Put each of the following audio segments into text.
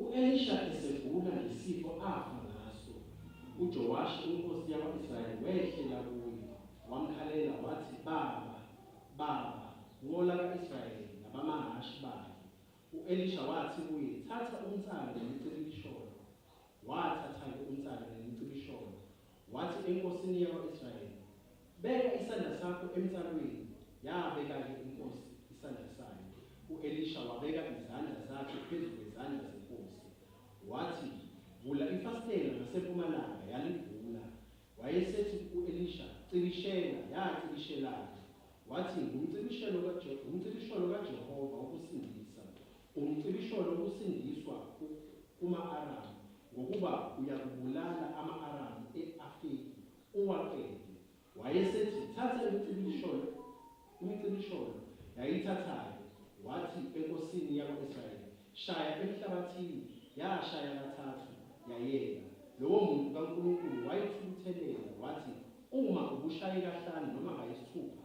U-Elisha esegula ngesifo afa ngaso, uJowashi inkosi yakwa-Israyeli wehlela kuye, wamkhalela wathi, Baba, baba, nqola ka-Israyeli nabamahhashi bakhe! U-Elisha wathi kuye, Thatha umnsalo nemicibisholo. Wathatha-ke umnsalo nemicibisholo, Wathi enkosini yakwa-Israyeli, Beka isandla sakho emtsalweni, yabeka-ke inkosi isandla sayo, u-Elisha wabeka izandla zakhe phezu kwezandla zenkosi. Wathi, Vula ifasitela ngasempumalanga, yalivula. Wayesethi ku-Elisha, Cikishela, yacikishela-ke. Wathi, Ngumcibishelo kaJe, ngumcibisholo kaJehova wokusindisa, Umcibisholo usindiswa kuma-Aramu ngokuba uyakubulala ama-Aramu e-Afeki, uwaqede. Wayesethi, Thatha imicibisholo, imicibisholo, yayithatha-ke, wathi enkosini yakwa-Israyeli, Shaya emhlabathini, yashaya kathathu, yayeka. Lowomuntu kaNkulunkulu wayithukuthelela, wathi, Uma ubushaye kahlanu noma kayisithupha,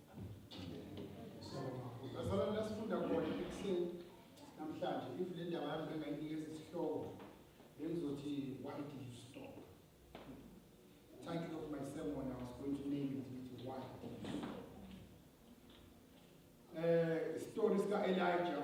Bazalwane lasifunda khona ekuseni namhlanje if le ndaba yami bengayinikeza isihloko bengizothi why did you stop? The title of my sermon I was going to name it ngithi why did you stop? Eh story sika Elijah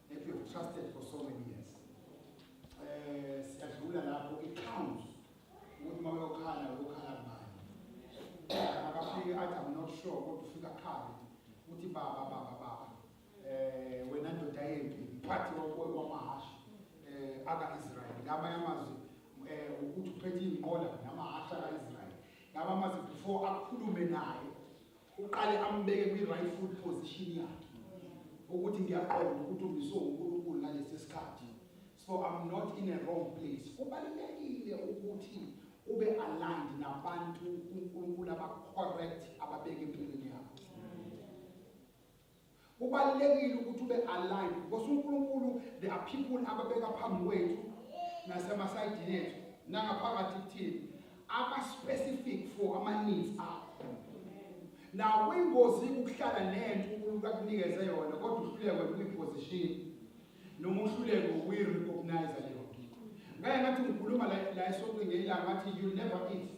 that you have trusted for so many years eh siyadlula lapho it counts ukuthi uma uyokhala uyokhala kubani akafike athi i'm not sure kodwa ufika khale uthi baba baba baba eh wena ndoda yempi mphathi wamahhashi eh aka-israyeli ngaba yamazwi um eh, ukuthi uphethe iy'nqola namahhashi aka-israyeli ngaba amazwi before akhulume naye uqale ambeke kwi right foot position yakhe ukuthi ngiyaqonda ukuthi umiswe uNkulunkulu ngalesi sikhathi so i'm not in a wrong place kubalulekile ukuthi ube aligned nabantu uNkulunkulu aba correct ababeke empilweni yakho kubalulekile ukuthi ube aligned because uNkulunkulu there are people ababeka phambi kwethu nasemasayidini ethu nangaphakathi kuthini aba specific for ama needs akho now kuyingozi ukuhlala nento uNkulunkulu akunikeze yona kodwa uhluleke ukuyiposition noma uhluleke ukuyirecognize leyo nto ngeke ngathi ngikhuluma la la esonto ngelanga ngathi you never eat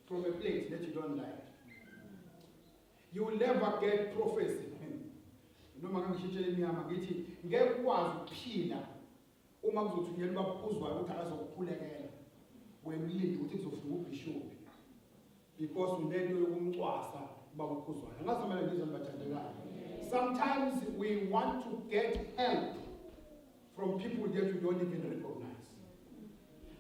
from a plate that you don't like You will never get prophecy. Noma kangishintshe imnyama ngithi ngeke ukwazi ukuphila uma kuzothunyelwa ubabuzwayo ukuthi akazokukhulekela. Wena ulinde ukuthi kuzofika ubishophi because unento yokumcwasa ubaba ukhuzwayo. Ngathi mina ngizwe nibathandekayo. Sometimes we want to get help from people that we don't even recognize.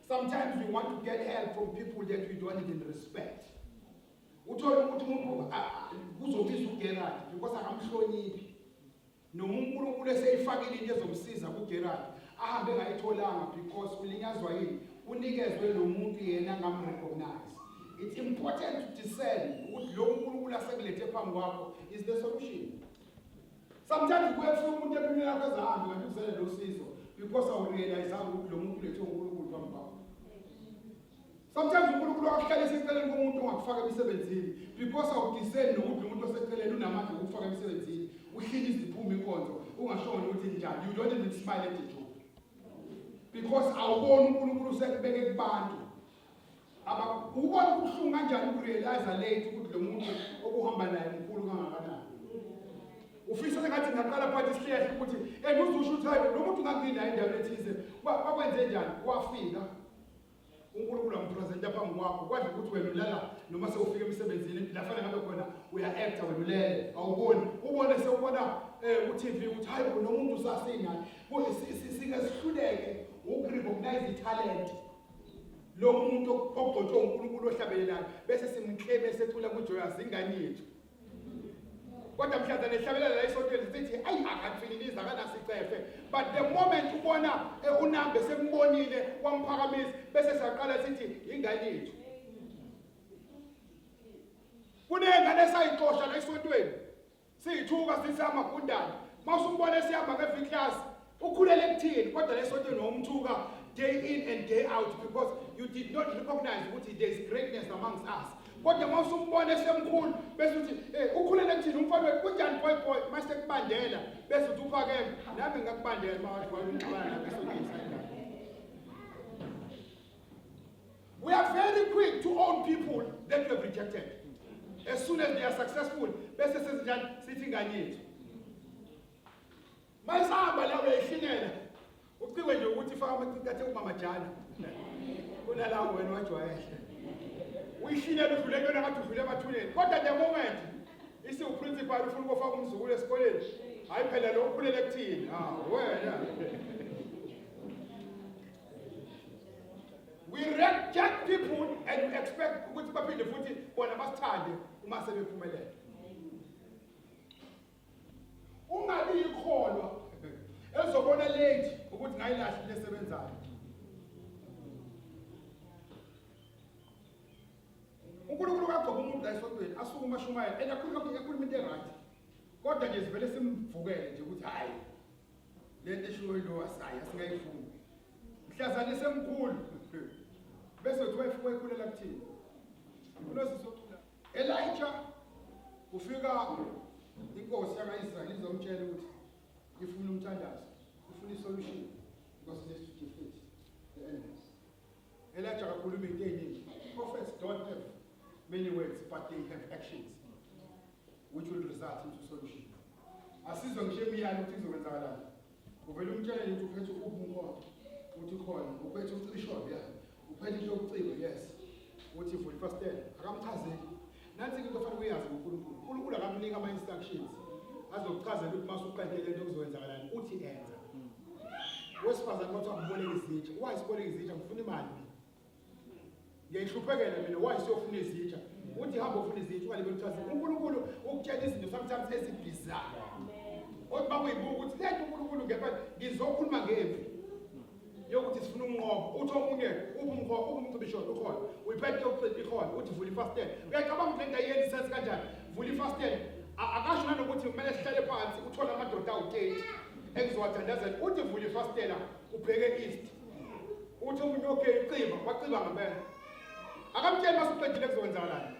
Sometimes we want to get help from people that we don't even respect. uthole ukuthi umuntu kuzomisa uGerard because akamhloniphi noma uNkulunkulu eseyifakile into ezomsiza kuGerard ahambe ngayitholanga because ulinyazwa yini unikezwe lo muntu yena ngamrecognize it's important to discern ukuthi lo uNkulunkulu asekulethe phambi kwakho is the solution sometimes kuye kufika umuntu empilweni yakho ezahambe ngathi uzele lo sizo because awurealize ukuthi lo muntu ulethe uNkulunkulu phambi kwakho Sometimes uNkulunkulu akuhlale seceleni komuntu ongakufaka emsebenzini because awudiseni nokuthi umuntu oseceleni unamandla okufaka emsebenzini uhlile iziphuma inkonzo ungashoni ukuthi njani you don't even smile at the joke because awuboni uNkulunkulu usekubeke kubantu ubona ubuhlungu kanjani ukurealize late ukuthi lo muntu okuhamba naye mkhulu kangakanani ufisa sengathi ngaqala phakathi isihlehla ukuthi and uzusho ukuthi hayi lo muntu nganginaye endaweni ethize bakwenze njani wafika uNkulunkulu ampresenta phambi kwakho kwadla ukuthi wena ulala noma sewufika emsebenzini la fanele ngabe khona uya-acta wena ulele awuboni ubone sewubona um ku-tv ukuthi hhayi bona umuntu usasina singezihluleke ukurecognize ithalente lo muntu ogcotshwe unkulunkulu ohlabelelayo bese simkleme secula kujoyazi ingane yethu kodwa mhlanza nehlabelela la esontweni sithi ayi akathwililizi akanasicefe but the moment ubona eh, unambe sembonile wamphakamisa bese siyaqala sithi yingane yethu kunengane esayixosha la esontweni siyithuka sithi amagundane mawusumbona esihamba nge-v class Ukhulele kuthini kodwa lesontweni wawumthuka day in and day out because you did not recognize ukuthi there is greatness amongst us. Kodwa uma usumbona esemkhulu bese uthi hey ukhulele kuthini umfana wethu kunjani boy boy mase kubandela bese uthi uphakeme nami ngakubandela uma wathi wayumxabana lapha esontweni sayidala. We are very quick to own people that we have rejected. As soon as they are successful, bese sezinjani sithi ingane yethu. Masihamba la uyayihlinela. Ucikwe nje ukuthi faka amacici athe umamajana. Kunalawo wena wajwayela. Uyihlinela udlule kuyona ngathi udlule emathuneni. Kodwa the moment isiwuprincipal ufuna ukofaka umzukulu esikoleni. Hayi phela lo ukhulele kuthini? Ah wena. We reject people and we expect ukuthi baphinde futhi bona basithande uma sebephumelela. Ungabi ikholwa ezobona late ukuthi ngayilahle lesebenzayo. uNkulunkulu kaGoba umuntu la esontweni asuke umashumayela and akhuluma ekhuluma into eright kodwa nje sivele simvukele nje ukuthi hayi lento eshiwo yilo wasayi asingayifuni mhlazane semkhulu bese uthi wayifuka ikhulela kuthini unosisi ocula Elijah kufika inkosi yakaIsrayeli izomtshela ukuthi ifuna umthandazo, ifuna isolution because it is to defeat the enemies. Elijah akakhuluma into eningi. Prophets don't have many words but they have actions which will result into solution. Asizwe ngisho imiyalo ukuthi izokwenzakalani. Uvele umtshele ukuthi uphethe ukuphi umkhondo. Uthi khona uphethe ucisholo ya. Uphethe into yokucika yes. Uthi vula ifastela akamchazeli. Nansi into ofanele uyazi uNkulunkulu. uNkulunkulu akamnika ama instructions. Azokuchazela ukuthi masuqede lento kuzokwenzakalani uthi enza. Wesifazane wathi akuboleke izitsha. Why siboleke izitsha ngifuna imali. ngiyayihluphekela mina why siyofuna izinja uthi hamba ufuna izinja ungalibeli kuthatha uNkulunkulu ukutshela izinto sometimes ezibhizayo kodwa uma kuyibuka ukuthi le nto uNkulunkulu ngempela ngizokhuluma ngempi yokuthi sifuna ukunqoba uthi omunye ubumkhona ubumcibisholo ukhona uyiphethe yokucela ikhona uthi vula ifastela uyacabanga ukuthi le nto ayenzi isensi kanjani vula ifastela akasho nanokuthi kumele sihlale phansi uthole amadoda awu-30 engizowathandazela uthi vula ifastela ubheke east uthi umuntu okay ucima waciba ngempela akamtsheli masuqedile kuzowenzakalani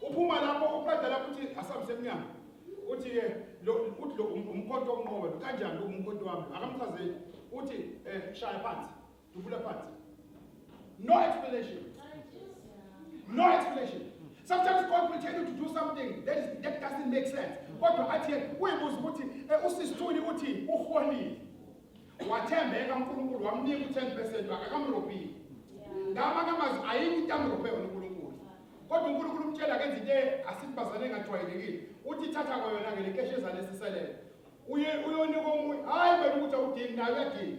uphuma lapho uqeda lapho uthi asihambise emnyango uthi ke lo uthi lo um, umkhonto onqobe kanjani lo umkhonto wami akamchazeli uthi eh shaya phansi dubula phansi no explanation no explanation sometimes god will tell you to do something that is that doesn't make sense kodwa athi uyibuza ukuthi eh, usisithuli uthi uholile wathembeka uNkulunkulu wamnika u10 percent wakhe akamrobhile ngama kamazi ayini into amrobhe yona uNkulunkulu kodwa uNkulunkulu umtshela kenza into asibazane engajwayelekile uthi thatha kwayona ngele keshi ezale siselele uye uyonika omunye hayi wena ukuthi awudingi nayo uyadinga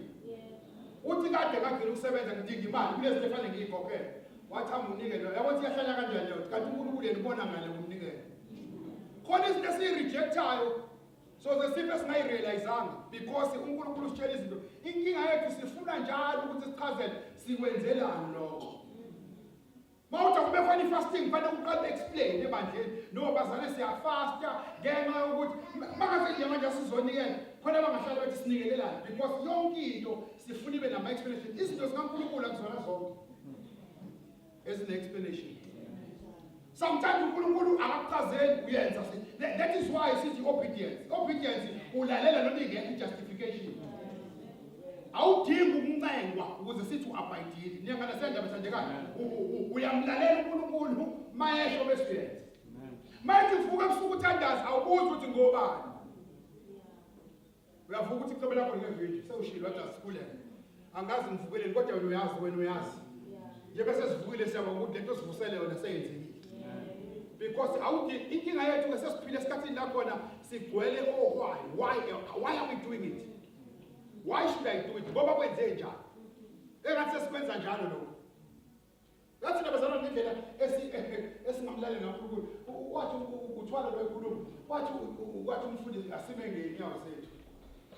uthi kade kagcina ukusebenza ngidinga imali kunezinto efanele ngiyikhokhele wathi amunikele yabo ukuthi yahlala kanjani leyo kanti uNkulunkulu yena ubona ngale kumnikela khona izinto esiyirejectayo so the simple singayirealizanga because uNkulunkulu usitshela izinto inkinga yethu sifuna njalo ukuthi sichazele sikwenzelani lokho Mawuthi kube khona ifasting kufanele uqale explain ebandleni no bazane siyafasta ngenxa yokuthi makaze nje manje sizonikela khona bangahlala bethi sinikelelana because yonke into sifuna ibe nama explanation izinto zikaNkulunkulu akuzona zonke ezine explanation sometimes uNkulunkulu akakuchazeli uyenza that is why sithi obedience obedience ulalela noma ingekho justification awudingi ukuncengwa ukuze sithi uabhayidile niyangana sendaba sandekana uyamlalela uNkulunkulu mayesho bese uyenza manje uvuka ebusuku uthandaza awubuzi ukuthi ngobani uyavuka ukuthi iqobo lakho ngevideo sewushilo wathi asikulele angazi ngivukeleni kodwa wena uyazi wena uyazi nje bese sivukile siyaba ukuthi lento sivusele yona seyenzekile because awuthi inkinga yethu ke sesiphile esikhathini lakhona sigcwele ohwayi oh, why why are we doing it why should i do it ngoba kwenze njani engathi sesikwenza njalo lokho ngathi nabazalwane ngendlela esingamlali ngakhulukhulu wathi uthwala lwenkulumo wathi wathi umfundisi asime ngey'nyawo zethu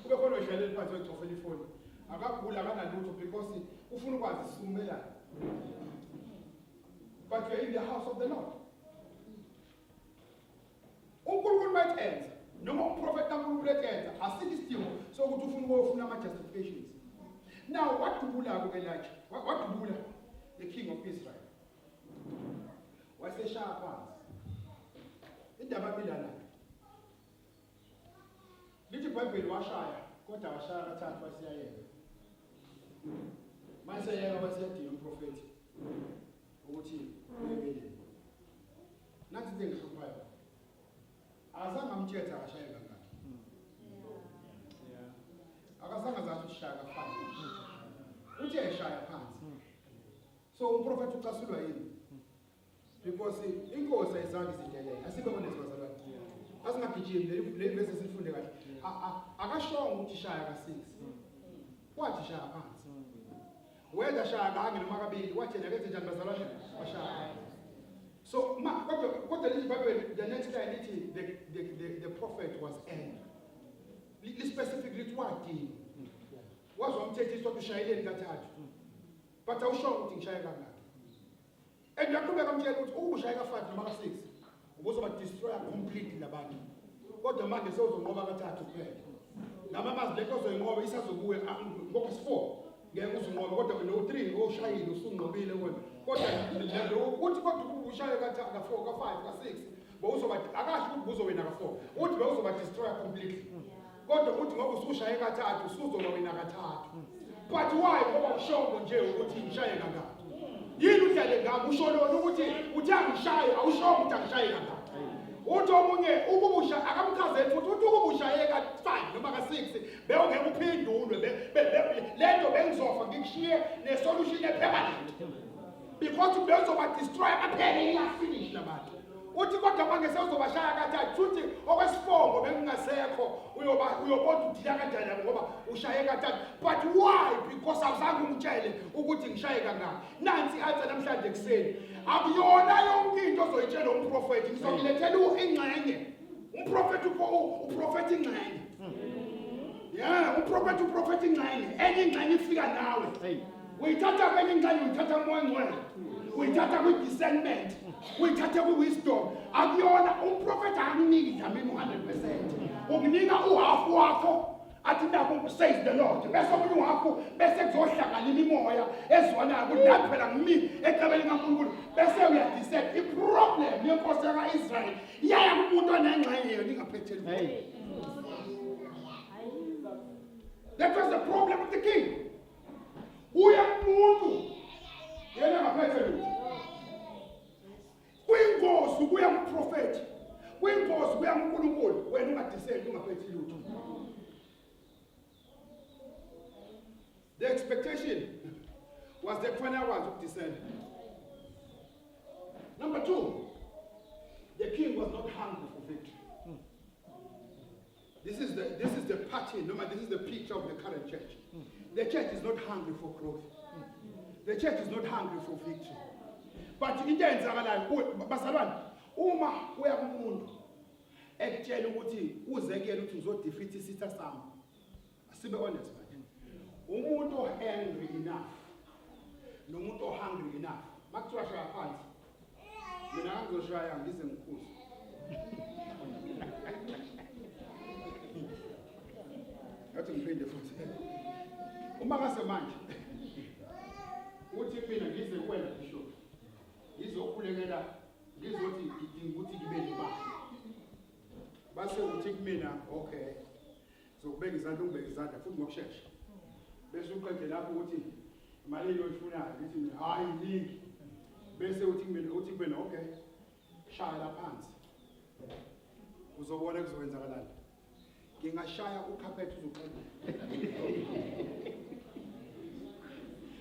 kube khona odlaleli phansi wechofela ifoni akaguli akanalutho because ufuna ukwazi sisukumelana but you're in the house of the lord uNkulunkulu mayenza noma umprofeti kaNkulunkulu eyenza asikho isidingo sokuthi ufuna ukufuna ama justifications now wadubula ke Elijah wadubula the king of Israel waseshaya phansi indaba bilana lithi ibhayibheli washaya kodwa washaya kathathu wasiyayeka mase yeka wasiyadinga umprofeti ukuthi uyebeleni Nathi into engihluphayo. Azange amtshethe akashaye kangaki. Akasanga zathi ushaya phansi. Uthe eshaya phansi. So umprofeti ucasulwa yini? Because inkosi ayizange izindelele. Asibe honest bazalwane. Asingagijimi le le verse sifunde kahle. Akashongo ukuthi shaya ka 6. Wathi shaya phansi. Whether shaya kanye noma kabili wathi yena kenze njani bazalwane bashaya. So ma kodwa kodwa leli Bible the next line ithi the the the, the prophet was angry. Li specific lithi wadini. Wazwa umthethiso ukuthi ushayeleni kathathu. But awusho ukuthi ngishaya kangaki. and yaqhubeka amtshela ukuthi ukushaye ka-five noma ka-six ubuzobadestroya completely labantu kodwa manje sewuzonqoba kathathu kuphela nami amazi le nto ozoyinqoba isazokuya ngoba si-four ngeke uzinqobe kodwa wena u-three oshayile usunqobile wena kodwa ukuthi kodwa ushaye ka-four ka-five ka-six bowuzoba akasho ukuthi buzowena ka-four uthi bewuzobadestroya completely kodwa uthi ngoba usushaye kathathu usuzoba wena kathathu but why ngoba ushongo nje ukuthi ngishaye kangaka yini udlale ngami usho lona ukuthi uthi angishaye awushongo ukuthi angishaye kangaka uthi omunye ukubusha akamchazeli futhi uthi ukubushaye ka-5 noma ka-6 bewungeke uphindulwe lento bengizofa ngikushiye nesolution ephemanent because bezobadestroya baphele iyafinish labantu uthi kodwa manje sewuzobashaya kathathu futhi okwesifongo bengingasekho uyobona udila kanjani yabo ngoba ushaye kathathu but why because awuzange ungitshele ukuthi ngishaye kangaki nansi i-answer namhlanje ekuseni akuyona yonke into ozoyitshela umprofethi ngizokulethela ingxenye umprofethi uprofethi ingxenye ya umprofethi uprofethi ingxenye enye ingxenye ifika nawe uyithatha kwenye ingxenye uyithatha moya ngcwele uyithatha kwi-discernment uyithatha kwi-wisdom akuyona umprofethi akuniki dlamini u-hundred percent ukunika uhafu wakho athi nabo kusays the lord bese omunye wakho bese kuzohlangana imimoya ezwanayo ukuthi nathi phela ngimi ecebeni kankulunkulu bese uyadisek iproblem yenkosi yaka-israyeli iyaya kumuntu onengxenye yona ingaphetheli that was the problem with the king uya kumuntu yena ngaphethe lutho kwingozi ukuya kuprofethi kwingozi ukuya kunkulunkulu wena ungadiseki ungaphethi lutho the expectation was that kufanele akwazi ukudisela number two the king was not hungry for victory This is, the, this is the party, no, this is the picture of the current church. The church is not hungry for growth. The church is not hungry for victory. But into eyenzakalayo bazalwane uma uya kumuntu ekutshela ukuthi uzekele ukuthi uzodefeat isitha sami Sibe honest bathini. Umuntu ohangry enough nomuntu ohungry enough makuthiwa shaya phansi mina ngizoshaya ngize ngikhuze ngathi ngiphinde futhi uma ngase manje uthi mina ngize kuwena bishop ngizokhulekela ngizothi ngidinga ukuthi ngibe nemali base uthi kumina okay zokubeka izandla ukubeka izandla futhi ngokushesha bese uqede lapho ukuthi malini oyifunayo ngithi mina hayi ningi bese uthi kumina uthi kumina okay shaya la phansi uzobona kuzokwenzakalani ngingashaya ukhaphethe uzoqeda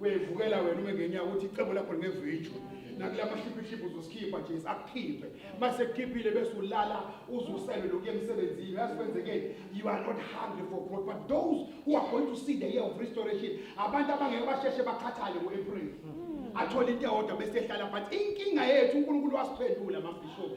uyayivukela wena ume ngenyawo ukuthi icebo lakho lingezwitsho nakula mashiphishipi uzosikhipha nje akukhiphe mase kukhiphile bese ulala uzusele lokhu emsebenzini yazi kwenzekeni you are not hungry for growth but those who are going to see the year of restoration abantu abangeke basheshe bakhathale ngo-april athole into eyodwa bese ehlala phansi inkinga yethu unkulunkulu wasiphendula mabhishobhi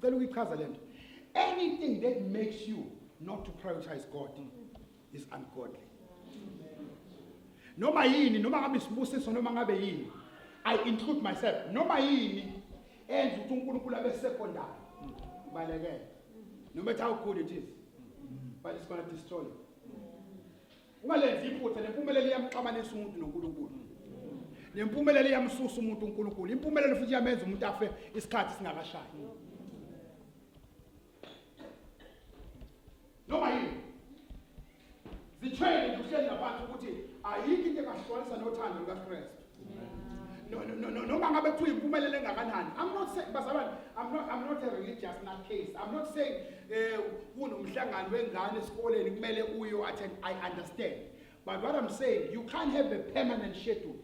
Cela uyichaza lento. Anything that makes you not to prioritize God is ungodly. Noma yini, noma ngabe isibusiso noma ngabe yini. I include myself. Noma yini enza ukuthi uNkulunkulu abe secondary. Balekele. No matter how good it is. But it's going to destroy you. ungalenzi iphutha nempumelelo iyamxabanisa umuntu noNkulunkulu nempumelelo iyamsusa umuntu uNkulunkulu impumelelo futhi iyamenza umuntu afe isikhathi singakashayi noma yini zitshele nje uhleli nabantu ukuthi ayikho into engahlukanisa nothando lukaKristu No, no, no, no, noma ngabe kuthiwa impumelelo engakanani i'm not saying bazalwane i'm not i'm not a religious nut case i'm not saying eh kunomhlangano wengane esikoleni kumele uyo attend i understand but what i'm saying you can't have a permanent schedule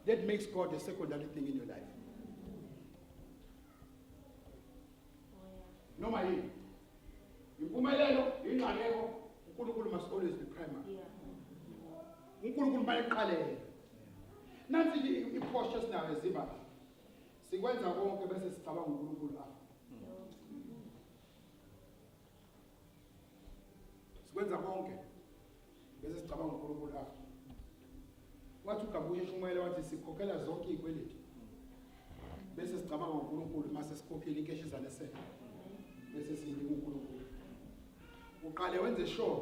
that makes god a secondary thing in your life noma yini impumelelo ingxaleko uNkulunkulu must always be primary Yeah. uNkulunkulu bayiqalele nansi ke iphosha esinayo ezimba sikwenza konke bese sicabanga uNkulunkulu afa sikwenza konke bese sicabanga uNkulunkulu afa wathi ugabuye shumele wathi sikhokhela zonke izikweleti bese sicabanga uNkulunkulu mase sikhokhile inkeshi zanesele bese siyinika uNkulunkulu uqale wenze sure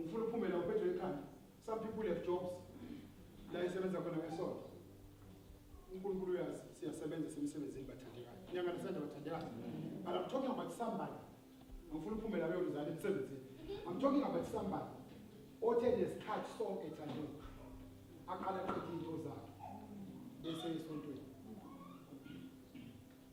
ngifuna uphume la uphethwe ikhanda some people have jobs la isebenza khona ngesonto unkulunkulu uyazi siyasebenza semsebenzini bathandekayo nyanga nasenza bathandekayo but i'm talking about somebody ngifuna uphume la beyoluzala emsebenzini i'm talking about somebody othe nesikhathi sonke ethandwe aqala qeda into zakhe bese esontweni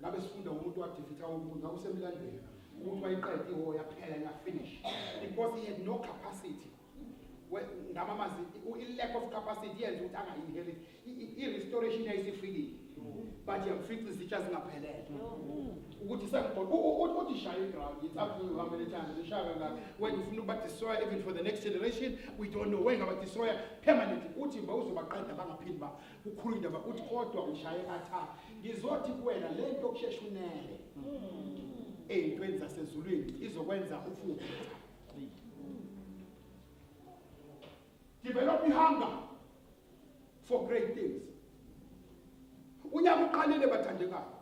ngabe sifunda umuntu wadifitha umuntu ngabe usemlandweni umuntu wayiqeda ihora yaphela yafinish because he had no capacity ngama mazi i-lack of capacity yenza ukuthi angainherit i-restoration yayisifikile but yamfica izitsha zingaphelele ukuthi sekuthi shaye iground it's up to you how many times ishaya kangaka when ufuna ukubadestroya even for the next generation we don't know wengabadestroya permanently uthi mba uzobaqeda bangaphindi ukhuluma indaba uthi kodwa ushaye katha ngizothi kuwena le nto yokushesha unele ey'ntweni zasezulwini izokwenza ufuke develop ihunger for great things unyaka uqalile bathandekayo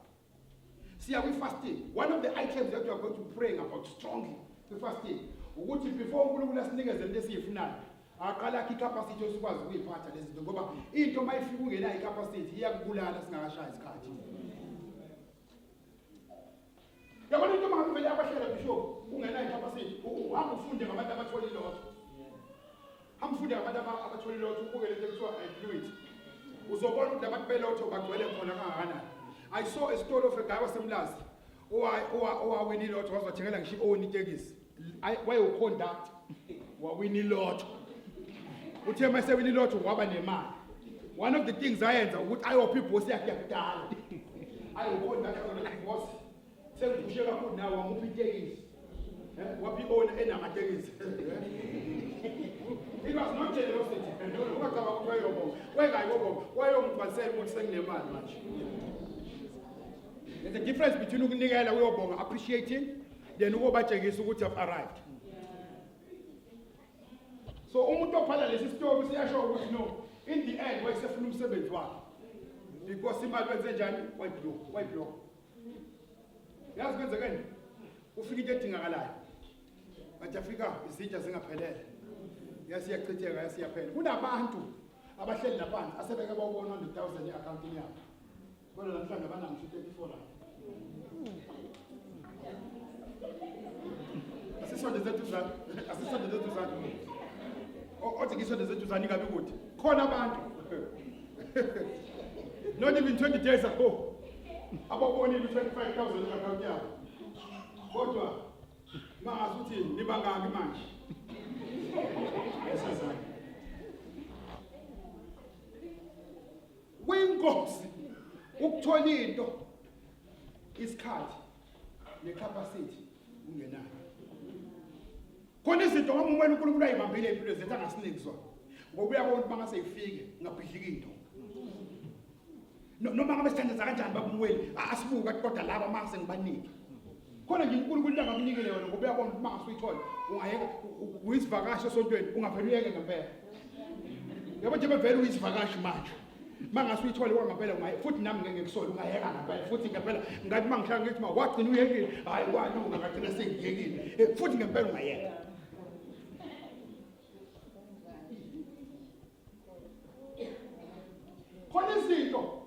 siya kwi-fasting one of the items that you are going to praying about strongly kwi-fasting ukuthi before unkulunkulu asinikeze into esiyifunayo aqala akhe icapacity osikwazi ukuyiphatha lezi zinto ngoba into uma ifika ungenayo icapacity iyakubulala singakashaya isikhathi yabona into mangakho vele yakwahlela bishop ungenayo icapacity uhamba ufunde ngabantu abathole ilotho Hamfunde abantu abathole ilotho ubuke lento ekuthiwa i-fluid. Uzobona ukuthi labantu belotho bagcwele khona kahana. I saw a story of a guy wasemlazi owawina ilotho waze wathengela ngisho i-own itekisi wayewuconduct wawina ilotho uthe uma esewina ilotho waba nemali one of the things ayenza ukuthi ayophi ibhosi yakhe yakudala ayewuconduct Sengiphushe kakhulu nawe wamuphi itekisi. Eh, waphi ona enamatekisi. It was not generosity. Ungacaba ukuthi wayobonga. Wayengayi kobonga. Wayomgcwalisela ukuthi senginemali manje. There's a difference between ukunikela uyobonga appreciating then ukobatshengisa ukuthi have arrived. So umuntu ophala lesi story siyasho ukuthi no in the end wayesefuna umsebenzi wakhe. Because imali wenze njani? Wayiblock, wayiblock. yazi kwenzekeni ufika into edingakalayo but afika izitsha zingaphelele yasiyachitheka yasiyaphela kunabantu abahleli laphansi asebeke bawubona 100000 e-akhawuntini yabo kodwa namhlanje banamsho 34 lapho asisonde zetuzane asisonde zetuzane othi ngisonde zetuzane ingabi kude khona abantu not even 20 days ago ababonile u-25 thousand i-akhawunti yabo kodwa mangazi ukuthi nibangaki manje esazane kwinkosi ukuthola into isikhathi necapacity ungenayo khona izinto ngoba umwena unkulunkulu ayibambile impilo zethu angasiniki zona ngoba uyabona uba ngase ifike ngabhidlika into noma ngabe sithandeza kanjani babumweli asibuka kodwa laba uma sengibanike khona nje unkulunkulu into angakunikele yona ngoba uyabona uma ngase uyithole ungayeka uyisivakasha esontweni ungavele uyeke ngempela yabo nje bevele uyisivakashi manje mangase uyithole wa ngempela ungaye futhi nami ngeke ngikusole ungayeka ngempela futhi ngempela ngathi mangihlanga ngithi ma wagcina uyekile hayi kwalunga ngagcina sengiyekile eh, futhi ngempela ungayeka khona izinto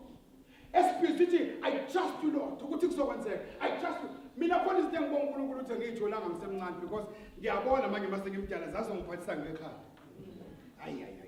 esiphila sithi i trust you lord ukuthi kuzokwenzeka i trust you mina khona izinto engibonga uNkulunkulu ukuthi ngiyitholanga ngisemncane because ngiyabona manje mase ngimdala zazongiphathisa ngekhaya ayi ayi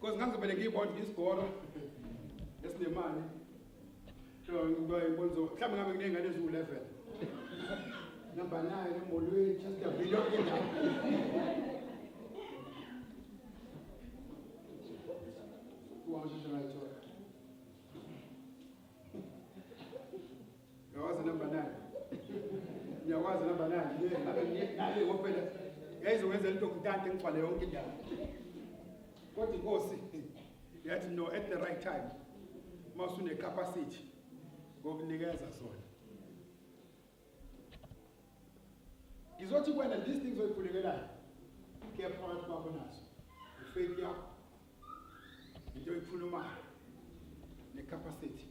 Because ngangizobele ngiyibona ngisigoro esinemali. So ngiba ibonzo mhlawumbe ngabe kunengane eziwu level. Namba naye emolweni just a video indawo. Kuwasheshe ngayithola. Ngiyawazi number 9. Ngiyawazi number 9. Yena ngabe ngiyekale ngophela. Yayizokwenza into kutante ngigcwale yonke indawo. Kodwa inkosi yathi no at the right time. Masune capacity ngokunikeza sona. Ngizothi kwena these things oyikhulekelayo. Kepha phakathi kwakho nazo. Faith yakho into ekhulumayo ne capacity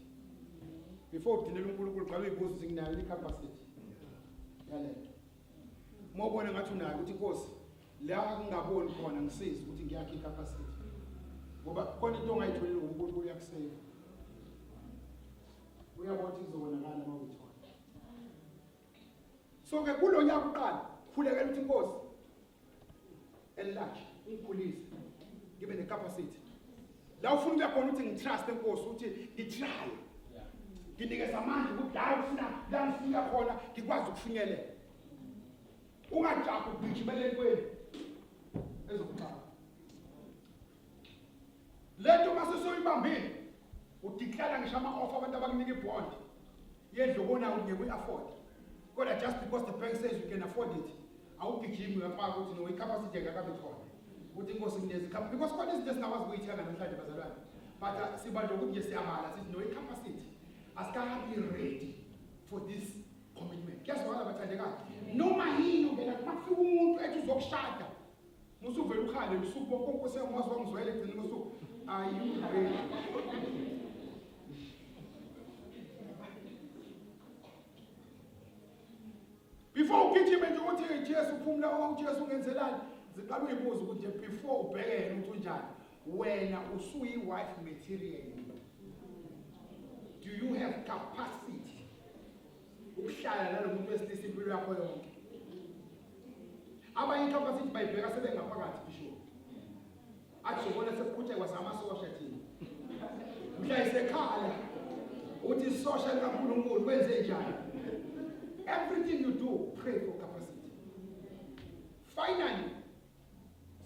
before udinela uNkulunkulu qala uyibuza ukuthi nginayo le capacity yalento uma ubona ngathi unayo ukuthi inkosi la kungaboni khona ngisiza ukuthi ngiyakhe capacity ngoba khona into ongayitholi uNkulunkulu uyakuseka uyabona ukuthi kuzobonakala uma uyithola so ke kulo nyaka uqala khulekela ukuthi inkosi enlarge ngikhulise ngibe necapacity la ufuna ukuya khona ukuthi ngitrust enkosi ukuthi ngitry nginikeza amandla ukuthi la ufuna la ngifika khona ngikwazi ukufinyelela ungajabu ugijimele entweni ezokuxaka lento uma sesoyibambile udiklara ngisho ama-off abantu abakunika ibond yendlu obonayo ukuthi ngeke uyi-afford kodwa just because the bank says you can afford it awugijimi uyafaka ukuthi no icapacity engakabi khona ukuthi inkosi kunezi because khona izinto esingakwazi ukuyithenga namhlanje bazalwane but uh, siba nje ukuthi nje siyabala sithi no icapacity asikahambi ready for this commitment kuyazwakala bathandekayo noma yini ungena kufika umuntu ethi uzokushada Musuvele ukhale usuku bonke uNkosi yami wazi wangizwela egcina usuku ayiveli. Before ugijime nje uthi Jesu phumula wama uJesu ungenzelani? Ziqala uyibuza ukuthi before ubheke yena ukuthi unjani. Wena usuyi wife material. Do you have capacity? ukuhlala nalomuntu wesilisa impilo yakho yonke abanye inhlamba sithi bayibheka sebengaphakathi bishop athi ubona sekuqhutshekwa kwasamasosha thina mhla isekhala uthi isosha likaNkulunkulu kwenze njani everything you do pray for capacity finally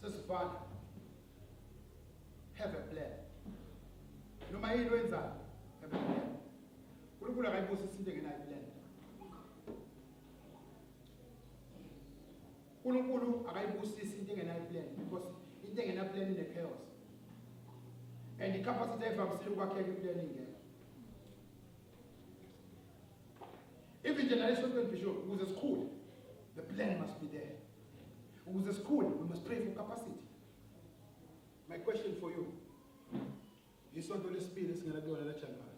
sesivala have a plan noma yini wenzayo have a plan uNkulunkulu akayibusisi into engenayo impilelo uNkulunkulu akayibusisi into engenayo impilelo because into engenayo impilelo ine chaos and icapacity evamisile ukwakheka impilelo ingekho even nje nale shotwe bishop ukuze sikhule the plan must be there ukuze sikhule we must pray for capacity my question for you yisonto lesibili esingena kuyona la January